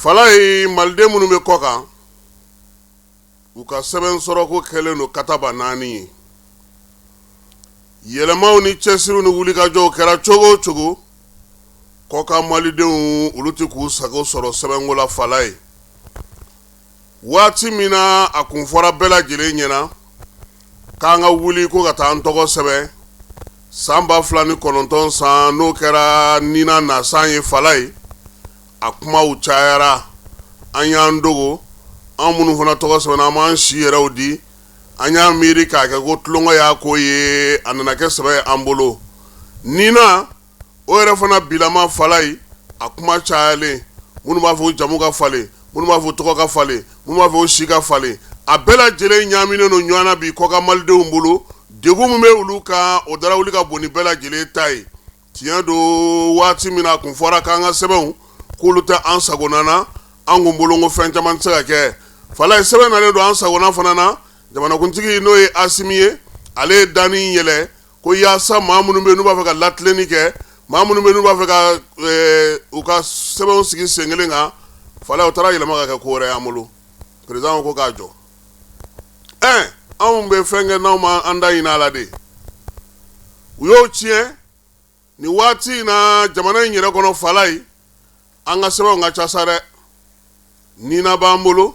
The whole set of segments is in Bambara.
fala ye maliden minnu bɛ kɔ kan u ka sɛbɛn sɔrɔko kɛlen don kataba naani ye yɛlɛmaw ni cɛsiriw ni wulikajɔw kɛra cogo o cogo kɔkan malidenw olu tɛ k'u sago sɔrɔ sɛbɛnko la fala ye waati min na a kun fɔra bɛɛ lajɛlen ɲɛna k'an ka wuli ko ka taa an tɔgɔ sɛbɛn san ba fila ni kɔnɔntɔn san n'o kɛra nina nasan ye fala ye a kumaw cayara an y'an dogo an minnu fana tɔgɔ sɛbɛnna an m'an si yɛrɛw di an y'a miiri k'a kɛ ko tulonko y'a ko ye a nana kɛ sɛbɛ y'an bolo nina o yɛrɛ fana bilama fala ye a kuma cayalen minnu b'a fɔ jamu ka falen minnu b'a fɔ tɔgɔ ka falen minnu b'a fɔ si ka falen a bɛɛ lajɛlen ɲaaminen don ɲɔgɔn na bi kɔkan malidenw bolo degun min bɛ olu kan o dara wuli ka bon ni bɛɛ lajɛlen ta ye tiɲɛ don waati min na a kun fɔra k'an ka sɛbɛnw k'olu tɛ an sagona na an kun bolo ko fɛn caman tɛ se ka kɛ fala ye sɛbɛn nalen don an sagona fana na jamanakuntigi n'o ye asimi ye ale ye da in yɛlɛ ko yaasa maa minnu bɛ n'u b'a fɛ ka latilenni kɛ maa minnu bɛ n'u b'a fɛ ka u ka sɛbɛnw sigi sen kelen kan fala o taara yɛlɛma ka kɛ ko wɛrɛ y'an bolo peresidan ko k'a jɔ ɛ anw bɛ fɛn kɛ n'anw ma an da ɲini a la de u y'o tiɲɛ nin waati in na jamana in yɛrɛ kɔnɔ fala ye an ka sɛbɛnw ka ca sa dɛ nina b'an bolo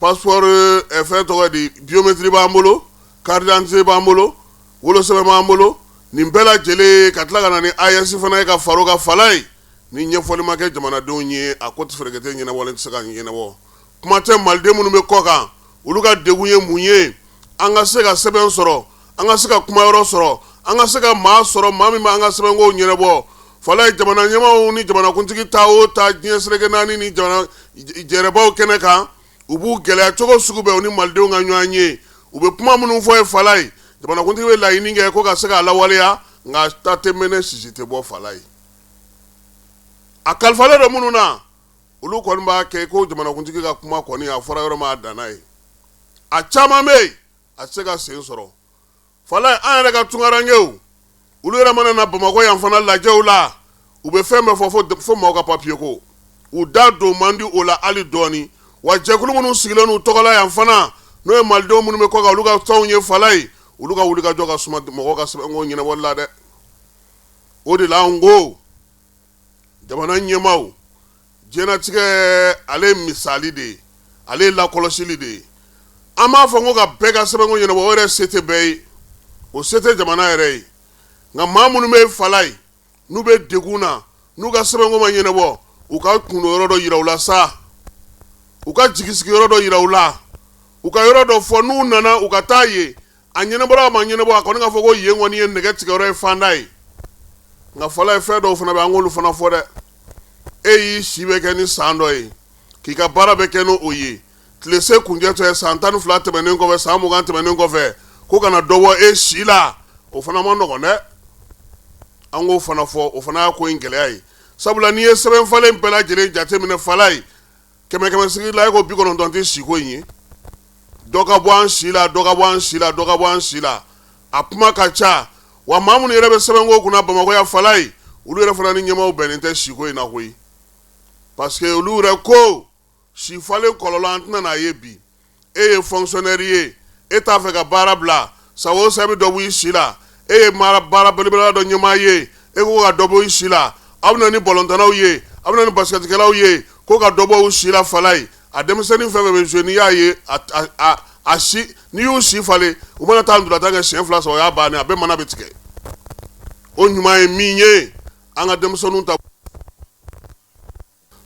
passeport fɛn tɔgɔ di biométrie b'an bolo carte d'identité b'an bolo wolosɛbɛn b'an bolo nin bɛɛ lajɛlen ka tila ka na ni aes fana ye ka fara o kan fala ye ni ɲɛfɔli ma kɛ jamanadenw ye a ko tɛ fereke tɛ ɲɛnabɔlen tɛ se ka ɲɛnabɔ kuma tɛ maliden minnu bɛ kɔkan olu ka degun ye mun ye an ka se ka sɛbɛn sɔrɔ an ka se ka kuma yɔrɔ sɔrɔ an ka se ka maa sɔrɔ maa min b'an ka sɛbɛnkow ɲɛnabɔ fala ye jamana ɲɛmaaw ni jamanakuntigi taa o taa diɲɛ seleke naani ni jɛrɛbaw kɛnɛ kan u b'u gɛlɛya cogo sugu bɛɛ u ni malidenw ka ɲɔgɔn ye u bɛ kuma minnu fɔ yen fala ye jamanakuntigi bɛ laɲini kɛ ko ka se k'a lawaleya nka ta tɛ mɛnɛ sisi tɛ bɔ fala ye a kalifalen don minnu na olu kɔni b'a kɛ ko jamanakuntigi ka kuma kɔni a fɔra yɔrɔ ma a danna yen a caman bɛ yen a tɛ se ka sen sɔrɔ fala ye an yɛrɛ ka tunkarankew olu yɛrɛ mana na bamakɔ yan fana lajɛw la u bɛ fɛn bɛɛ fɔ fo maaw ka papiye ko u da don man di o la ali dɔɔni wa jɛkulu minnu sigilen u tɔgɔ la yan fana n'o ye malidenw minnu bɛ kɔ kan olu ka tɔnw ye fala ye olu ka wulikajɔ ka suma mɔgɔw ka sɛbɛnko ɲɛnabɔli la dɛ o de la ko jamana ɲɛmaaw diɲɛlatigɛ ale ye misali de ye ale ye lakɔlɔsili de ye an b'a fɔ ko ka bɛɛ ka sɛbɛnko ɲɛnabɔ o yɛrɛ se tɛ bɛɛ ye o se tɛ jamana yɛrɛ ye nka maa minnu bɛ falayi n'u bɛ degun na n'u ka sɛbɛnko ma ɲɛnabɔ u ka kundonyɔrɔ dɔ yira u la sa u ka jigisigiyɔrɔ dɔ yira u la u ka yɔrɔ dɔ fɔ n'u nana u ka taa ye a ɲɛnabɔra a ma ɲɛnabɔ a kɔni ka fɔ ko yen kɔni ye nɛgɛ tigɛyɔrɔ ye fanda ye nka falayi fɛn dɔw fana bɛ an k'olu fana fɔ dɛ e y'i si bɛɛ kɛ ni san dɔ ye k'i ka baara bɛɛ kɛ n'o ye tilese kuncɛtɔ ye san tan ni fila tɛmɛnen kɔfɛ san mugan tɛmɛnen kɔfɛ ko ka na dɔ bɔ e si la o fana ma nɔgɔn dɛ an k'o fana fɔ o fana y'a ko in gɛlɛya ye sabula n'i ye sɛbɛn falen bɛɛ lajɛlen jateminɛ falayi kɛmɛkɛmɛsigi la e ko bi kɔnɔntɔn tɛ siko in ye dɔ ka bɔ an si la dɔ ka bɔ an si la dɔ ka bɔ an si la a kuma ka ca wa maa minnu yɛrɛ bɛ sɛbɛnko kunna bamakɔ yan falayi olu yɛrɛ fana ni ɲɛmaaw bɛnnen tɛ siko in na koyi parce que olu yɛrɛ ko si falen kɔlɔlɔ an tɛna n'a ye bi e ye fonctionnaire ye e t'a fɛ ka baara bila san o san i bɛ dɔ b'i si la e ye baara belebele dɔ ɲɛmaa ye e ko ka dɔ bɔ i si la aw bɛ na ni balɔntannaw ye aw bɛ na ni basikɛtikɛlaw ye ko ka dɔ bɔ u si la falayi a denmisɛnnin fɛn fɛn bɛ jouer n'i y'a ye a si n'i y'u si falen u mana taa ntolatan kɛ siɲɛ fila sɔrɔ o y'a bannen a bɛɛ mana bɛ tigɛ o ɲuman ye min ye an ka denmisɛnninw ta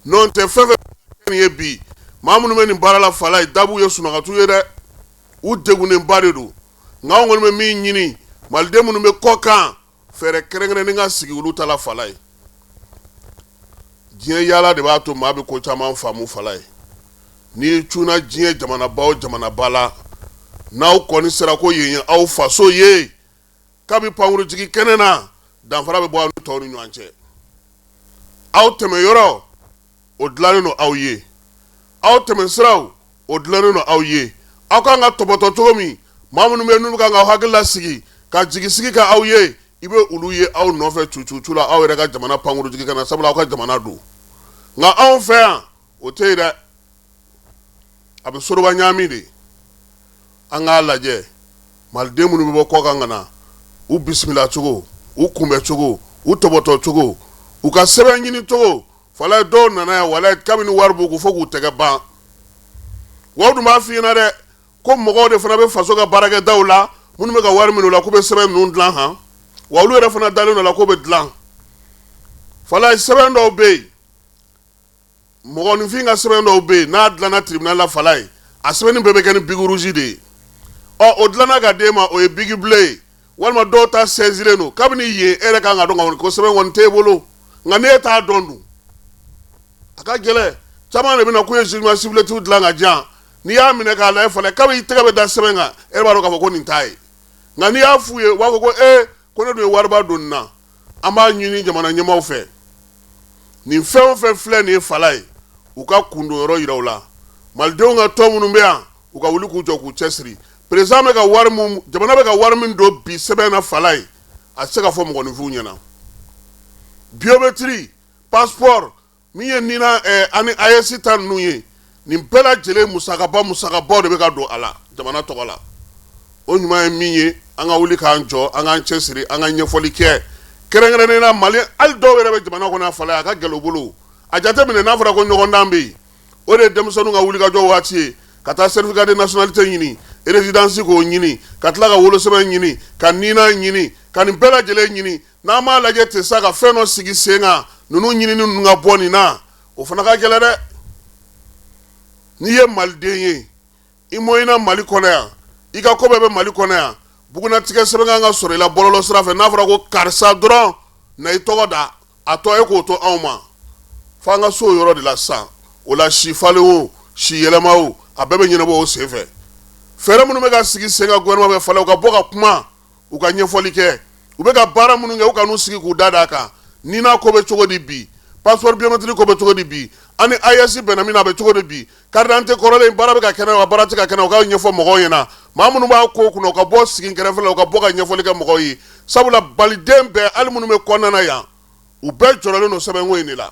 N'o tɛ fɛn fɛn ye bi maa minnu bɛ nin baara la falayi dawu ye sunkatu ye dɛ u degunnenba de don nka anw kɔni bɛ min ɲini maliden minnu bɛ kɔ kan fɛɛrɛ kɛrɛnkɛrɛnnen ka sigi olu ta la falayi diɲɛ yaala de b'a to maa bɛ ko caman faamu falayi n'i cunna diɲɛ jamanaba o jamanaba la n'aw kɔni sera ko yen ye aw faso ye kabini pankurunjigikɛnɛ na danfara bɛ bɔ aw ni tɔw ni ɲɔgɔn cɛ aw tɛmɛ yɔrɔ o dilannen don aw ye aw tɛmɛ siraw o dilannen don aw ye aw ka kan ka tɔpɔtɔ cogo min maa minnu bɛ n'u ka kan k'aw hakili lasigi ka jigisigi kɛ aw ye i bɛ olu ye aw nɔfɛ cu cu la aw yɛrɛ ka jamana pankurunjigikɛnɛ na sabula aw ka jamana don nka anw fɛ yan o tɛ yen dɛ a bɛ soroba ɲaami de an k'a lajɛ maliden minnu bɛ bɔ kɔ kan ka na u bisimilacogo u kunbɛcogo u tɔpɔtɔcogo u ka sɛbɛn ɲini cogo falayi dɔw nana yan walayi kabini wari b'u kun fo k'u tɛgɛ ban wa u dun b'a fɔ i ɲɛna dɛ ko mɔgɔw de fana bɛ faso ka baarakɛdaw la minnu bɛ ka wari minɛ u la k'u bɛ sɛbɛn ninnu dilan han wa olu yɛrɛ fana dalen don u la k'u bɛ dilan falayi sɛbɛn dɔw bɛ yen mɔgɔninfin ka sɛbɛn dɔw bɛ yen n'a dilanna tribunal la falaye a sɛbɛnni bɛɛ bɛ kɛ ni biki rouge de ye ɔ o dilanna ka d'e ma o ye biki bleu ye walima dɔw ta saisilen don kabini yen e yɛrɛ ka kan k'a dɔn k'a fɔ ko sɛbɛn kɔni t'e bolo nka n'e t'a dɔn dun a ka gɛlɛn caman de bɛ na k'u ye jugement supplétif dilan ka di yan n'i y'a minɛ k'a lajɛ falaye kabini i tɛgɛ bɛ da sɛbɛn kan e b'a dɔn k'a fɔ ko nin t'a ye nka n'i y'a f'u ye u b'a fɔ ko ee ko ne dun ye wariba don nin na an b'a ɲini jamana ɲɛmaaw fɛ nin fɛn o fɛn filɛ nin ye falaye u ka kundo yɔrɔ yira u la malidenw ka tɔn minnu bɛ yan u ka wuli k'u jɔ k'u cɛ siri président bɛ ka wari min jamana bɛ ka wari min don bi sɛbɛn na falaye a tɛ se ka fɔ mɔgɔninfinw ɲɛna biométrie passeport Min ye nina ani AES ta ninnu ye nin bɛɛ lajɛlen musakaba musakabaw de bɛ ka don a la jamana tɔgɔ la o ɲuman ye min ye an ka wuli k'an jɔ an k'an cɛ siri an ka ɲɛfɔli kɛ kɛrɛnkɛrɛnnen na mali hali dɔw yɛrɛ bɛ jamana kɔnɔ falaye a ka gɛlɛn u bolo a jate minɛ n'a fɔra ko ɲɔgɔndan bɛ yen o de ye denmisɛnninw ka wulikajɔ waati ye ka taa certificat de nationalité ɲini résidence k'o ɲini ka tila ka wolosɛbɛn ɲini ka nina ɲini ka nin bɛɛ lajɛlen ɲini N'an m'a lajɛ ten sa ka fɛn dɔ sigi sen kan ninnu ɲinini ninnu ka bɔ nin na o fana ka gɛlɛn dɛ n'i ye maliden ye i mɔyina mali kɔnɔ yan i ka ko bɛɛ bɛ mali kɔnɔ yan bugunatigɛ sɛbɛn kan ka sɔrɔ i la bɔlɔlɔ sira fɛ n'a fɔra ko karisa dɔrɔn na i tɔgɔ da a tɔ e k'o to anw ma fo an ka s'o yɔrɔ de la sisan o la si falen o si yɛlɛma a bɛɛ bɛ ɲɛnabɔ o senfɛ fɛɛrɛ minnu bɛ ka sigi sen kan gouvernement fɛ falaye u ka bɔ ka kuma u ka ɲɛfɔli kɛ u bɛ ka baara minnu kɛ u ka n'u sigi k'u da d'a kan nina ko bɛ cogo di bi passeport biométrique ko bɛ cogo di bi an ni AES bɛnna min na a bɛ cogo di bi carte d'identité kɔrɔlen baara bɛ ka kɛ n'a ye wa baara tɛ ka kɛ n'a ye u k'a ɲɛfɔ mɔgɔw ɲɛna maa minnu b'a ko kunna u ka bɔ sigi n kɛrɛfɛ la u ka bɔ ka ɲɛfɔli kɛ mɔgɔw ye sabula maliden bɛɛ hali minnu bɛ kɔnɔna na yan u bɛɛ jɔrɔlen don sɛbɛnko in de la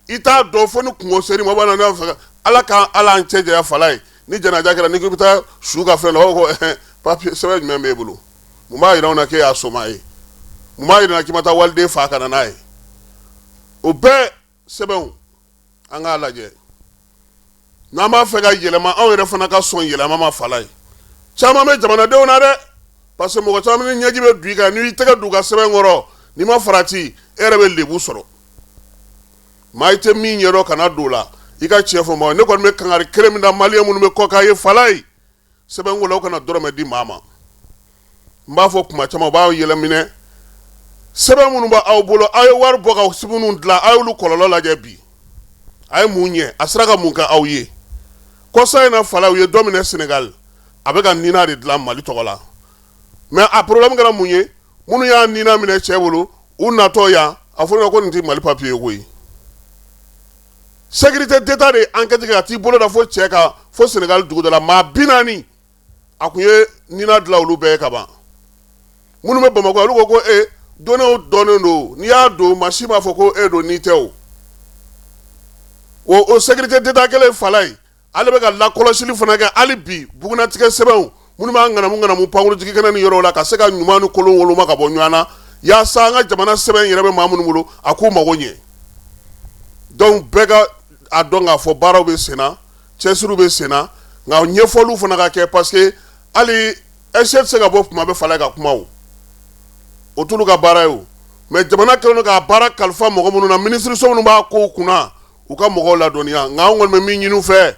i t'a dɔn fo ni kunko ser'i ma fɛ ala ka a n'an cɛ janya falaye ni janaja kɛra ni ko i bɛ taa su ka fɛn la o ko papier sɛbɛn jumɛn b'e bolo mun b'a yira an na k'e y'a somaa ye mun b'a yira k'i ma taa waliden faa ka na n'a ye o bɛɛ sɛbɛnw an k'a lajɛ n'an b'a fɛ ka yɛlɛma anw yɛrɛ fana ka sɔn yɛlɛma ma falaye caman bɛ jamanadenw na dɛ parce que mɔgɔ caman ni ɲɛji bɛ don i kan n'i tɛgɛ don u ka sɛbɛn kɔrɔ n'i ma farati e yɛrɛ bɛ lebu sɔrɔ maa i tɛ min ɲɛ dɔn kana don o la i ka cɛ fɔ ma ne kɔni bɛ kangari kelen min da malien minnu bɛ kɔkan ye falaye sɛbɛnko la aw kana dɔrɔmɛ di maa ma n b'a fɔ kuma caman u b'aw yɛlɛminɛ sɛbɛn minnu b' aw bolo aw ye wari bɔ ka sɛbɛnw dilan aw y'olu kɔlɔlɔ lajɛ bi a ye mun ɲɛ a sera ka mun kɛ aw ye kɔsa in na falaye u ye dɔ minɛ Sénégal a bɛ ka nina de dilan mali tɔgɔ la mais a problème kɛra mun ye minnu y'a nina minɛ cɛ bolo u natɔ yan a fɔra ko nin tɛ mali papier ye koyi sécurité d'état de ankɛti kɛ ka t'i bolo da fo cɛ kan fo sɛnɛkali dugu dɔ la maa bi naani a tun ye nina dilan olu bɛɛ ye ka ban minnu bɛ bamakɔ olu ka coordonnées dɔnnen don n'i y'a don machine b'a fɔ ko e don n'i tɛ o o sécurité d'état kelen falaye ale bɛ ka lakɔlɔsili fana kɛ hali bi bugunatigɛ sɛbɛnw minnu b'a ŋanamuŋanamu pankurunjigikɛnɛ ni yɔrɔw la ka se ka ɲuman ni kolon woloma ka bɔ ɲɔgɔn na yaasa an ka jamana sɛbɛn in yɛrɛ bɛ maa minnu bolo a k'u mago ɲɛ donc bɛɛ ka a dɔn k'a fɔ baaraw bɛ senna cɛsiriw bɛ senna nka ɲɛfɔliw fana ka kɛ parce que hali ɛsɛ tɛ se ka bɔ kuma bɛɛ falaye ka kuma o t'olu ka baara ye mais jamana kɛlen k'a baara kalifa mɔgɔ minnu na minisiriso minnu b'a ko kunna u ka mɔgɔw ladɔnniya nka anw kɔni bɛ min ɲini u fɛ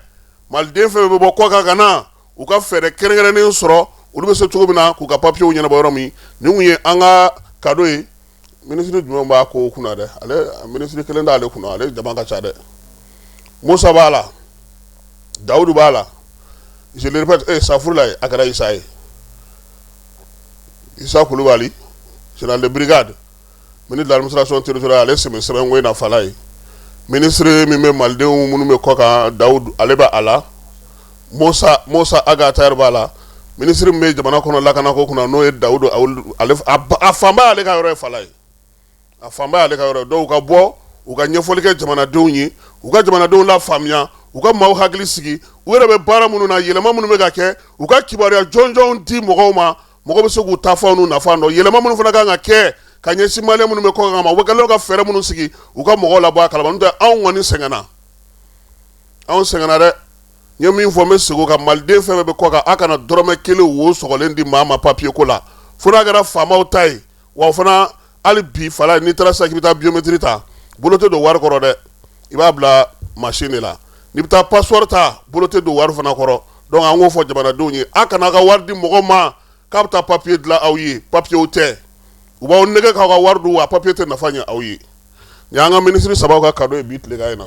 maliden fɛn bɛ bɔ kɔkan ka na u ka fɛɛrɛ kɛrɛnkɛrɛnnen sɔrɔ olu bɛ se cogo min na k'u ka papiyew ɲɛnabɔ yɔrɔ min nin tun ye an ka cadeau ye minisiri jumɛn b'a ko kunna dɛ ale minisiri kelen t'ale kunna ale jama ka ca dɛ musa b'a la dawudu b'a la eh, safurulayi a kɛra isa ye isa kulubali général de brigade Ministre de l'administration territoriale ale sen bɛ sɛbɛnko in na falaye minisiri min bɛ malidenw minnu bɛ kɔkan dawudu ale bɛ a la musa ag attaher b'a la minisiri min bɛ jamana kɔnɔ lakana ko kunna n'o ye dawudu a fanba y'ale ka yɔrɔ ye falaye a fanba y'ale ka yɔrɔ ye donc u ka bɔ u ka ɲɛfɔli kɛ jamanadenw ye u ka jamanadenw lafaamuya u ka maaw hakili sigi u yɛrɛ bɛ baara minnu na yɛlɛma minnu bɛ ka kɛ u ka kibaruya jɔnjɔnw di mɔgɔw ma mɔgɔ bɛ se k'u taafan n'u nafan dɔn yɛlɛma minnu fana kan ka kɛ ka ɲɛsin maliyɛn minnu bɛ kɔkan ma u kɛlen ka fɛɛrɛ minnu sigi u ka mɔgɔw labɔ a kalama n'o tɛ anw kɔni sɛgɛnna anw sɛgɛnna dɛ n ye min fɔ n bɛ segin o kan maliden fɛn fɛn bɛ kɔkan aw kana dɔrɔmɛ kelen wo sɔgɔlen di maa ma papiye ko la fo n'a kɛra faamaw ta ye wa fana hali bi fala n'i taara sa k'i bɛ taa biométrie ta bolo tɛ don wari kɔrɔ dɛ i b'a bila machine de la n'i bɛ taa passeport ta bolo tɛ don wari fana kɔrɔ donc an k'o fɔ jamanadenw ye a kana ka wari di mɔgɔ ma k'a bɛ taa papier dilan aw ye papier o tɛ u b'aw nɛgɛn k'aw ka wari dun wa papier tɛ nafa ɲɛ aw ye nin y'an ka ministre sabaw ka cadeau ye bi tilegan in na.